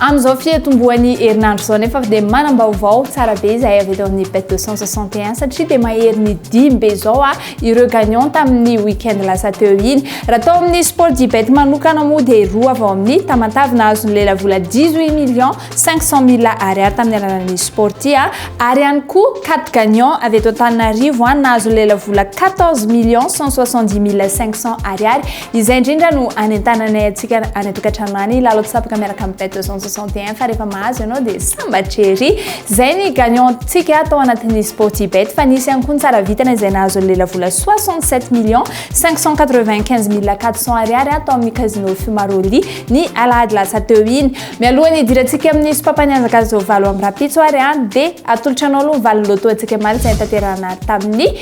Amin'izao fiatombohan'ny herinandro izao nefa dia manam-baovao tsara be izahay avy eto amin'ny bet 261 satria dia maherin'ny dimy be izao ah ireo gagnant tamin'ny week-end lasa teo iny. Raha tao amin'ny sport du bet manokana moa dia roa avy ao amin'ny Tamatave nahazo ny lelavola 18 millions 500 mille ariary tamin'ny alalan'ny Sporty ah, ary ihany koa quatre gagnants avy eto Antananarivo ah nahazo ny lelavola 14 millions 170 mille 500 ariary. Izay indrindra no anentananay antsika any an-tokantrano any lalao-tsapaka miaraka amin'ny bet 261 fa rehefa mahazo ianao dia sambatra ery. Izay ny gagnant-tsika tao anatin'ny Sporty Bet fa nisy ihany koa ny tsara vitana izay nahazo ny lelavola 67 millions 595 mille 400 ariary ato amin'ny Casino Fumaroli ny alahady lasa teo iny. Mialoha ny hidirantsika amin'ny sopam-panianjaka izao valo amby rahampitso ary dia atolotra anao aloha ny valiny loto antsika maro izay nitanterahana tamin'ny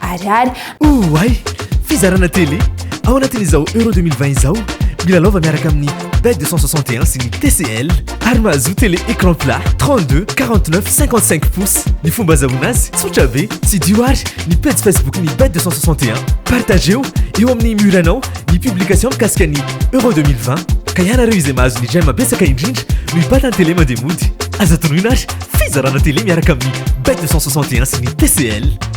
Ariary. Oay! Fizarana télé ao anatin'izao Euro 2020 izao, milalaova miaraka amin'ny Bet 261 sy ny TCL ary mahazoa télé écran plat 32, 49, 55 pouces. Ny fomba azahoana azy tsotra be, tsidiho ary ny pejy Facebook-n'ny Bet 261. Partageo eo amin'ny mur-nao ny publication mikasika ny Euro 2020 ka ianareo izay mahazo ny j'aime betsaka indrindra no hibata ny télé mandeha mody. Aza tonoina ary fizarana télé miaraka amin'ny Bet 261 sy ny TCL.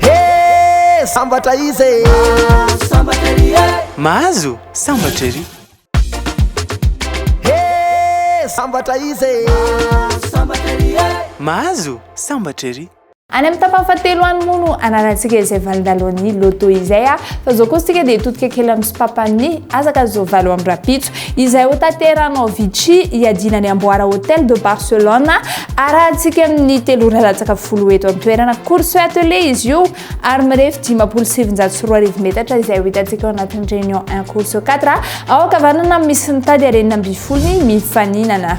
Hee sambatra izy e. Mahazo sambatra ery e. Mahazo sambatra ery. Hee sambatra izy e. Mahazo sambatra ery e. Mahazo sambatra ery. Any amin'ny tapany fahatelo any moa no anarantsika izay valindalohan'ny loto izay fa zao koa isika dia todika kely amin'ny sopapany azaka zao valo amby rapitso izay hotaterahanao Avicii hiadiana ny amboara Hotel de Barcelone arahantsika amin'ny telo ora latsaka folo eto an-toerana. Course attelée izy io ary mirefy dimampolo sy sivinjato sy roa arivo metatra izay ho hitantsika ao anatin'ny Réunion un Course quatre ao ankavanana misy ny tady arenina ambifolony mifaninana.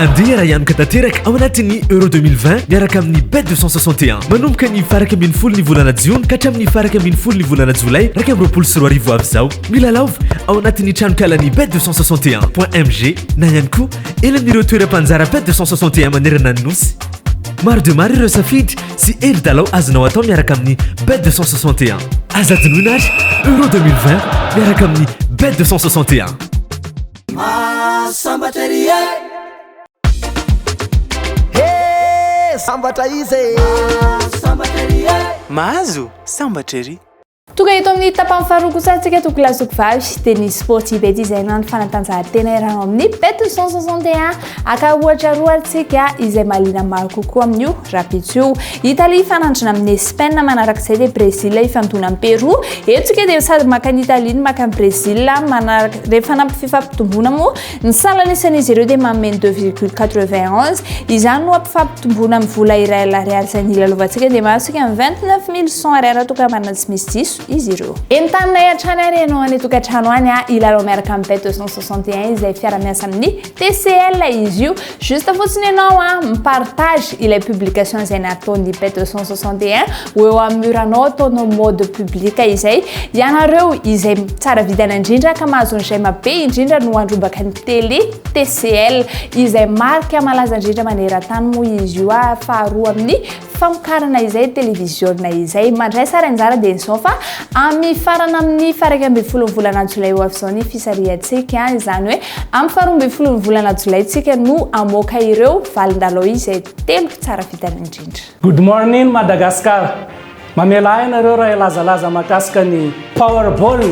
Andeha raha hianoka tanteraka ao anatin'ny Euro 2020 miaraka amin'ny Bet 261. Manomboka ny faraka ambin'ny folo ny volana jiona ka hatramin'ny faraka ambin'ny folo ny volana jolay iraika amby roapolo sy roa arivo avy izao. Milalaova ao anatin'ny tranonkalan'ny Bet 261.mg na ihany koa eny amin'ireo toeram-panjara Bet 261 manerana ny nosy. Maro dia maro ireo safidy sy hery dalao azonao atao miaraka amin'ny Bet 261. Aza adinoina ary Euro 2020 miaraka amin'ny Bet 261. Mahasambatra ery e He sambatra izy e Mahasambatra ery e Mahazo sambatra ery Tonga eto amin'ny tapany faharoa kosa antsika toko lazoky vavy dia ny sport ibet izay na ny fanatanjahantena iarahao amin'ny bet 161 Aka ohatra roa ary tsika izay mahaliana maro kokoa amin'io rahampitso io. Italie hifanandrina amin'ny Espaina, manarak'izay dia Brezila hifandona amin'i Peroa. Eto tsika dia sady maka an'i Italie no maka an'i Brezila, manaraka rehefa hanampy fifampitomboana moa ny salan'ny isan'izy ireo dia manome ny deux virgule quatre-vingt onze, izany no hampifampitomboana amin'ny vola iray alina ariary izay nilalaovantsika dia mahasika amin'ny vingt-neuf mille cent ariary raha toa ka manana tsy misy diso izy ireo. Entaninay hatrany ary ianao any an-tokantrano any hilalao miaraka amin'ny Bet deux cent soixante et un izay fiara-miasa amin'ny. TCL izy io, juste fotsiny ianao a mi-partage ilay publication izay nataon'ny Pet 261 ho eo amin'ny mur anao ataonao mode public izay, ianareo izay tsara vidana indrindra ka mahazo ny j'aime be indrindra no handrombaka ny télé TCL izay marika malaza indrindra maneran-tany moa izy io a, faharoa amin'ny famokarana izay televiziona izay mandray sary anjara dia izao fa amin'ny farana amin'ny faraika ambin'ny folo volana jolay ho avy izao ny fisarihantsika izany hoe amin'ny faharoa ambin'ny folo ny volana jolayntsika no amoaka ireo valindalao izay telo tsara vitana indrindra. Good morning Madagascar! Mamela ahy ianareo raha hilazalaza mahakasika ny Powerball,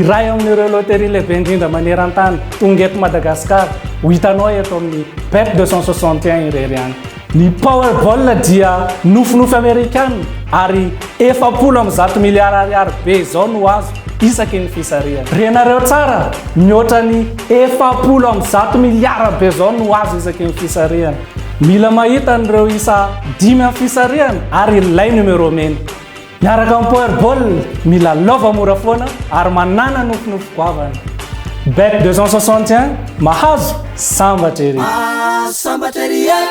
iray amin'ireo loterie lehibe indrindra maneran-tany, tonga eto Madagascar, ho hitanao eto amin'ny Bet 261 irery ihany. Ny Powerball dia nofinofy Amerikana ary efapolo amby zato miliara ariary be izao no azo isaky ny fisarihana. Renareo tsara, mihoatra ny efapolo amby zato miliara be izao no azo isaky ny fisarihana. Mila mahita an'ireo isa dimy amin'ny fisarihana ary ilay numéro mena. Miaraka amin'ny Power Ball, mila lova mora foana ary manana nofinofy goavana. Bet 261, mahazo, sambatra ery! Ah, sambatra ery e!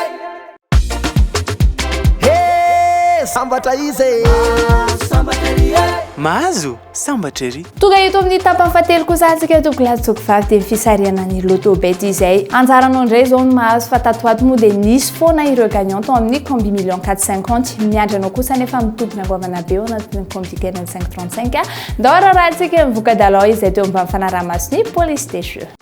He, sambatra izy e! Ah, sambatra ery e! Mahazo, sambatra ery! Tonga eto amin'ny tapany fahatelo kosa antsika Douglas Jokovavy dia ny fisarihana ny Lotto Bet izay anjaranao indray izao no mahazo fa tato ho ato moa dia nisy foana ireo gagnant tao amin'ny Combi Million 450 miandry anao kosa anefa mitompina goavana be ao anatin'ny Combi Kely ny 535 ndao ararahantsika ny voka-dalao izay teo ambany fanaraha-mason'ny Police des Jeux.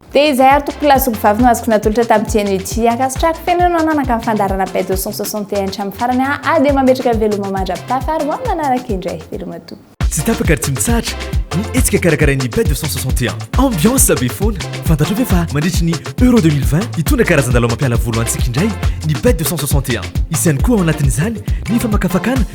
Dia izay ary tompoko lahy sy ombivavy no azoko natolotra tamin'ity anio ity. Ankasitrahako feno ianao nanaka ny fandaharana page 261 hatramin'ny farany a a dia mametraka ny veloma mandra-pitafa ary ho amin'ny manaraka indray. Velomatoa. Tsy tapaka ary tsy mitsahatra ny hetsika karakarain'ny page 261. Ambiance be foana. Fantatrao ve fa mandritry ny Euro 2020 hitondra karazan-dalao mampiala voly ho antsika indray ny page 261. Hisy ihany koa ao anatin'izany ny famakafakana